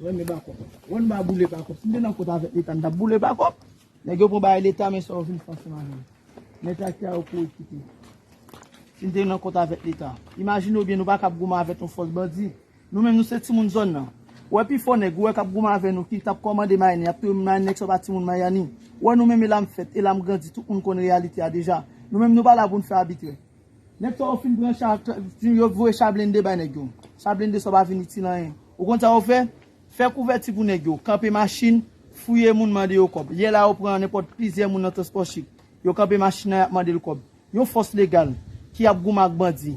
Renmen bakop. Wan ba boule bakop. Si m te nan kont avèk leta m tap boule bakop. Nèg yo pran bagay leta men sa yo vin fè ansanm avèm. Mèt ak tè a yo kou ekipe. Si m te nan kont avèk leta. Imajine ou byen nou pa kab goumen avèk yon fòs bandi. Nou menm nou se timoun zòn nan. Ou wè pi fò nèg ou wè kap goumen avè nou ki tap kòmande mayani yap touye moun mayani nèg sa yo pa timoun mayani. Ou wè nou menm e la m fèt e la m grandi tout moun konn reyalite a deja. Nou menm nou pa la pou n fè abitrè. Nèg sa yo fin pran cha yo voye cha blende bay nèg yo. Cha blende sa yo pa vin itil anyen. Ou konn sa yo fè? Fè kouvèti pou nèg yo, kanpe machin, fouye moun mande yo kòb. Yè la yo pran nenpòt plizyè moun nan transpò chik. Yo kanpe machin nan y ap mande l kòb. Yon fòs legal ki ap goumen ak bandi.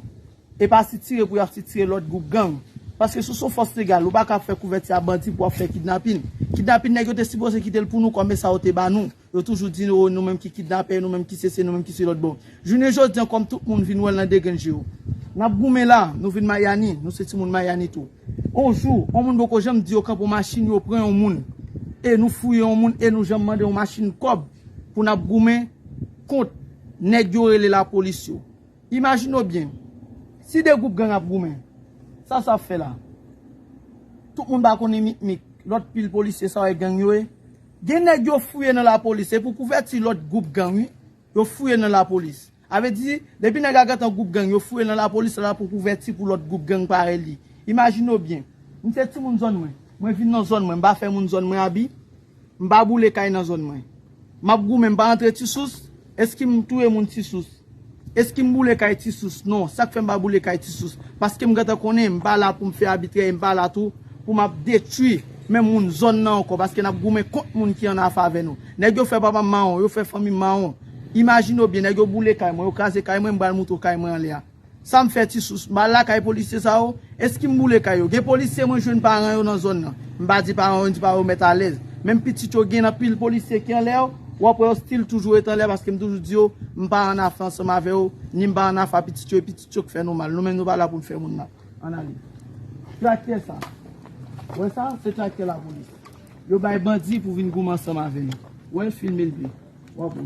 E pa sitire pou y ap sitire lòt gwoup gang. Paske si w se yon fòs legal ou pa ka ap fè kouvèti a bandi pou w ap fè kidnapin. Kidnapin nèg yo te sipoze kite l pou nou kòm e sa yo te ba nou. Yo toujou di oh nou menm ki kidnapè, nou menm ki sesi, nou menm ki selòt bon. Jounen jodi an kòm tout moun vin wè l nan degrenn je yo. N ap goumen la, nou vin Mayani, nou se timoun Mayani tou. On jou, on moun poko janm di yo kanpe on machin yo pran on moun, e nou fouye on moun e nou janm mande on machin kòb pou n ap goumen kont nèg yo rele lapolis yo. Imajine w byen, si de gwoup gang ap goumen, sa sa ap fè la? Tout moun pa konnen mikmik lòt pil polisye sa wè gang yo ye? Gen nèg yo fouye nan lapolis se pou kouvèti lòt gwoup gang wi yo fouye nan lapolis avè di depi nèg la gentan gwoup gang yo fouye nan lapolis se la pou kouvèti pou lòt gwoup gang parèy li imajine w byen m se timoun zòn mwen mwen vin nan zòn mwen m pa fè moun zòn mwen abi m pa boule kay nan zòn mwen m ap goumen m pa antre ti sous Eskim touye moun ti sous. Eskim boule kay ti sous non sak fèm pa boule kay ti sous paskem gentan konnen mpa la poum fè abitrè e mpa la tou pou map detwi menm moun zòn nan ankò paske nap goumen kont moun ki an afavè nou nèg yo fè papam mawon yo fè fanmim mawon imajine w byen nèg yo boule kay mwen yo kraze kay mwen mpral moutre w kay mwen anlè a. Sam fè ti sous bal la kay polisye sa yo, eskim boule kay yo. Gen polisye mwen jwenn paran yo nan zòn nan. M pa di paran yo, m di paran yo mèt alèz. Menm pitit yo gen nan pil polisye ki anlè yo, wap wè yo stil toujou ret anlè paske m toujou di yo, m pa an afe ansanm avè yo, ni m pa an afe a pitit yo, e pitit yo k fè nou mal. Nou menm nou pa la pou n fè moun mal. Ann ale. Traktè sa. Ou wè sa? Se traktè lapolis. Yo bay bandi pou vin goumen ansanm avè nou. Ou wè l? Filme l byen. Wap wè.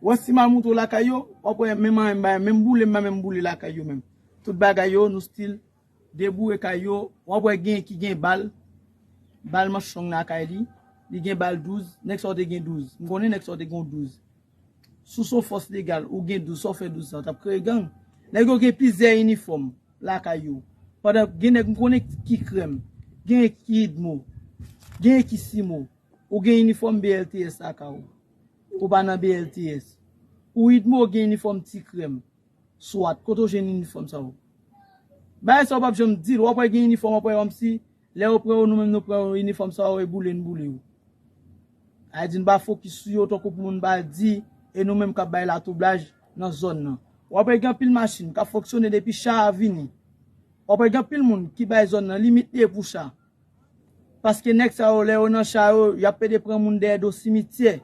Wè si mal moutre w lakay yo, wap wè menm anyen m ba yo, menm boule m ba menm boule lakay yo menm. Tout bagay yo nou still deboure kay yo, wap wè gen ki gen bal, bal manch long lakay li, li gen bal 12, nèg sa w te gen 12, m konnen nèg sa w te gen yon 12. Si w son fòs legal, ou gen 12, sa w fè 12 sa, w tap kreye gang? Nèg yo gen plizyè inifòm lakay yo, pandan gen nèg m konnen ki krèm, genyen ki idmo, genyen ki simo. Ou gen inifòm BLTS laka ou? Ou pa nan BLTS? Ou idmo gen inifòm ti krèm? Swat, kote ou jwenn inifòm sa yo? Bagay sa ou pap janm di l, wap wè gen inifòm wap wè kòmsi lè yo pran ou nou menm nou pran yo inifòm sa yo e boule n boule yo. Bagay di n pa fokis sou yo tankou pou moun pa di e nou menm kap bay latwoublaj nan zòn nan. Wap wè gen anpil machin kap fonksyone depi cha a vini. Wap wè gen anpil moun ki bay zòn nan limit li e pou cha a. Paske nèg sa yo lè yo nan cha yo yap pede pran moun dèyè do simityè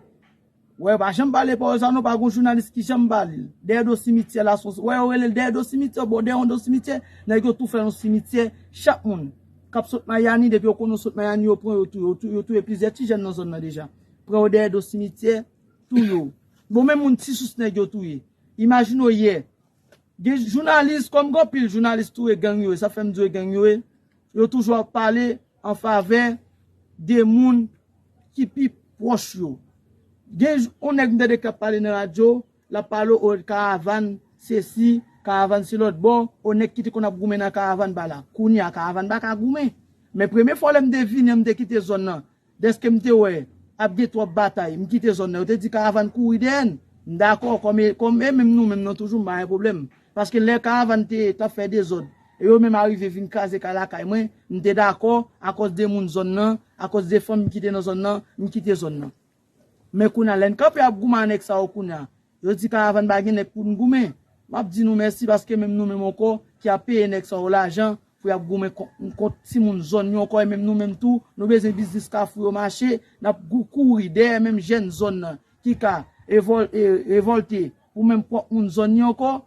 wè yo pa janm pale pawòl sa non pa gon jounalis ki janm pale l dèyè do simityè la son wè yo rele l dèyè do simityè bon dèyè yon do simityè nèg yo tou fè yon simityè chak moun kap sot mayani depi yo konnen w sot mayani yo pran yo touye w yo touye plizyè ti jèn nan zòn nan deja pran yo dèyè do simityè touye w bon men moun ti sous nèg yo touye imajine w yè Gen jounalis kom gen anpil jounalis tou e gang yo ye sa fem di yo e gang yo ye yo toujou ap pale an favè de moun ki pi proch yo gen yon neg m tande kap pale nan radio lap pale o karavann sesi karavann se lot bò o neg ki te konn ap goumen nan karavann ba la kounya karavann ba ka goumen men premye fwa lem te vini an m te kite zòn nan Dèske m te wè ap gen twòp batay, m kite zòn nan. Yo te di Karavan kouri dèyè n. M dakò, kòm e menm nou menm nan toujou m pa gen pwoblèm. Paske lè Karavan te t ap fè dezòd e yo menm arive vin kraze kay lakay mwen, m te dakò akòz de moun zòn nan, akòz de fanmi ki te nan zòn nan, m kite zòn nan. Men kounye a lè n kanpe ap goumen a nèg sa yo kounye a, Yo di karavan pa gen nèg pou n goumen. M ap di nou mèsi paske menm nou menm ankò ki ap peye nèg sa yo lajan pou y ap goumen kont n, kont timoun zòn yo ankò e menm nou menm tou nou bezwen biznis Kafou yo mache, n ap kouri dèyè menm jèn zòn nan ki ka revòlte pou menm pwòp moun zòn yo ankò.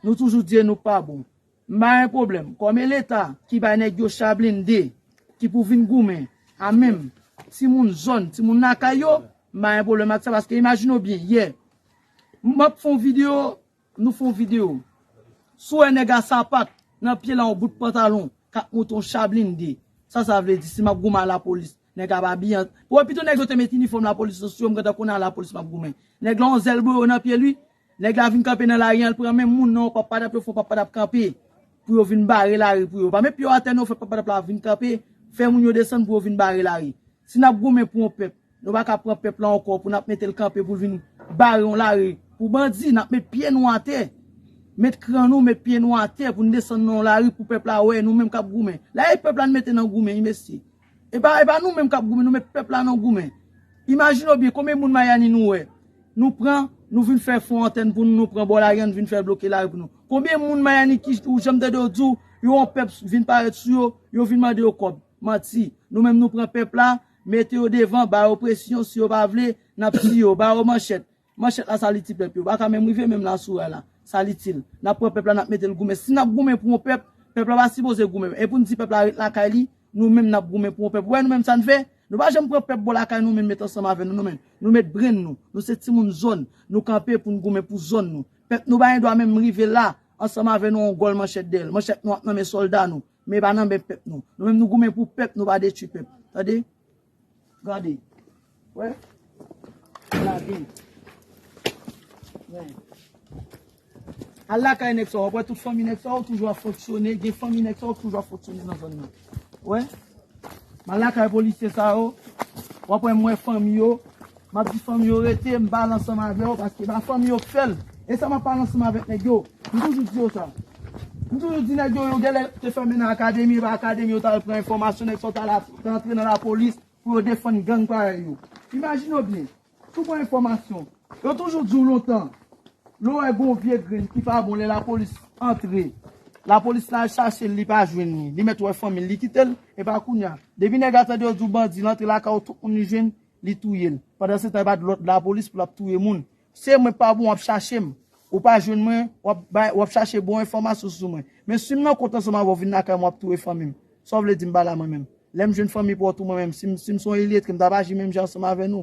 Nou toujou di e nou pa bon. M pa gen pwoblèm. Kòm e leta ki bay nèg yo cha blinde ki pou vin goumen a menm timoun zòn, timoun lakay yo, m pa gen pwoblèm ak sa paske imajine w byen yè m ap fè yon videyo, nou fè yon videyo si w wè nèg a sapat nan pye l a yon bout pantalon k ap monte yon cha blinde, sa sa vle di si m ap goumen a lapolis nèg a ap abiye an wè pito nèg yo te met inifòm lapolis sou yo m gentan konnen a lapolis m ap goumen nèg la yon zèl boyo nan pye l wi. Nèg la vin kanpe nan lari an l pran men moun nan yon pappadap yo fè yon pappadap kanpe pou yo vin bare lari pou yo pa met pye yo atè non fè pappadap la vin kanpe fè moun yo desann pou yo vin bare lari si n ap goumen pou yon pèp nou pa ka pran pèp la ankò pou n ap mete l kanpe pou l vin bare yon lari pou bandi n ap met pye nou atè met kran nou met pye nou atè pou n desann nan yon lari pou pèp la wè nou menm k ap goumen la e pèp la n mete nan goumen wi mesye. E pa e pa nou menm kap goumen nou met pèp la nan goumen. Imajine w byen konbyen moun Miami nou wè nou pran nou vin fè fon antèn pou nou nou pran bò lari an nou vin fèl bloke lari pou nou. Konbyen moun Miami ki ou janm tande yo di w yo yon pèp vin parèt sou yo yo vin mande yo kòb. Manti. Nou menm nou pran pèp la mete yo devan ba yo presyon si yo pa vle nap tiye yo ba yo manchèt. Manchèt la sa li ti pèp yo paka menm rive menm la sou ray la sa li til nap pran pèp la nap metel goumen si nap goumen pou yon pèp pèp la pa sipoze goumen epoun di pèp la ret lakay li nou menm nap goumen pou yon pèp ou wè nou menm sa n fè nou pa janm pran pèp bò lakay nou menm met ansanm avè nou nou menm nou met brenn nou nou se timoun zòn nou kanpe poun goumen pou zòn nou pèp nou pa gendwa menm rive la ansanm avè nou yon gòl manchèt dèyèl manchèt nou ap nan men sòlda nou men pa nan men pèp nou nou menm nou goumen pou pèp nou pa detwi pèp tande. Gade. Wè. Lage. Wè. Al lakay nèg sa w ap wè tout fanmi nèg sa yo toujou ap fonksyone, gen fanmi nèg sa yo ki toujou ap fonksyone nan zòn nan. Wè. M al lakay polisye sa yo, w ap wè m wè fanmi yo. Map di fanmi yo rete m pale ansanm avè yo paske ba fanmi yo k fèl esa map pale ansanm avèk nèg yo m toujou di yo sa m toujou di nèg yo yo gèlè te fèmen nan akademi epa akademi yo tal pran enfòmasyon nèg sa yo tal rantre nan lapolis pou yo defann gang parèy yo imajine w byen si w pran enfòmasyon yo toujou di w lontan lè w wè gon vye grenn ki pa bon lè lapolis antre lapolis la al chache l li pa jwenn li li mèt wè fanmi l li kite l epa kounya depi nèg la tande yo di w bandi l antre lakay w tout moun li jwenn. Li touye l. Pandan se tan e pat lot lapolis pou lap touye moun. Se mwen pa bon wap chache m. Ou pa jwenn mwen wap bay wap chache bon enfòmasyon sou mwen. Men sim nan kont ansanm avèw vin lakay mwen wap touye fanmi m. Saw vle dim pala mwen menm. Lèm jwenn fanmi paw tou mwen menm sim sim son iletre m tap aji menm jan ansanm avè nou.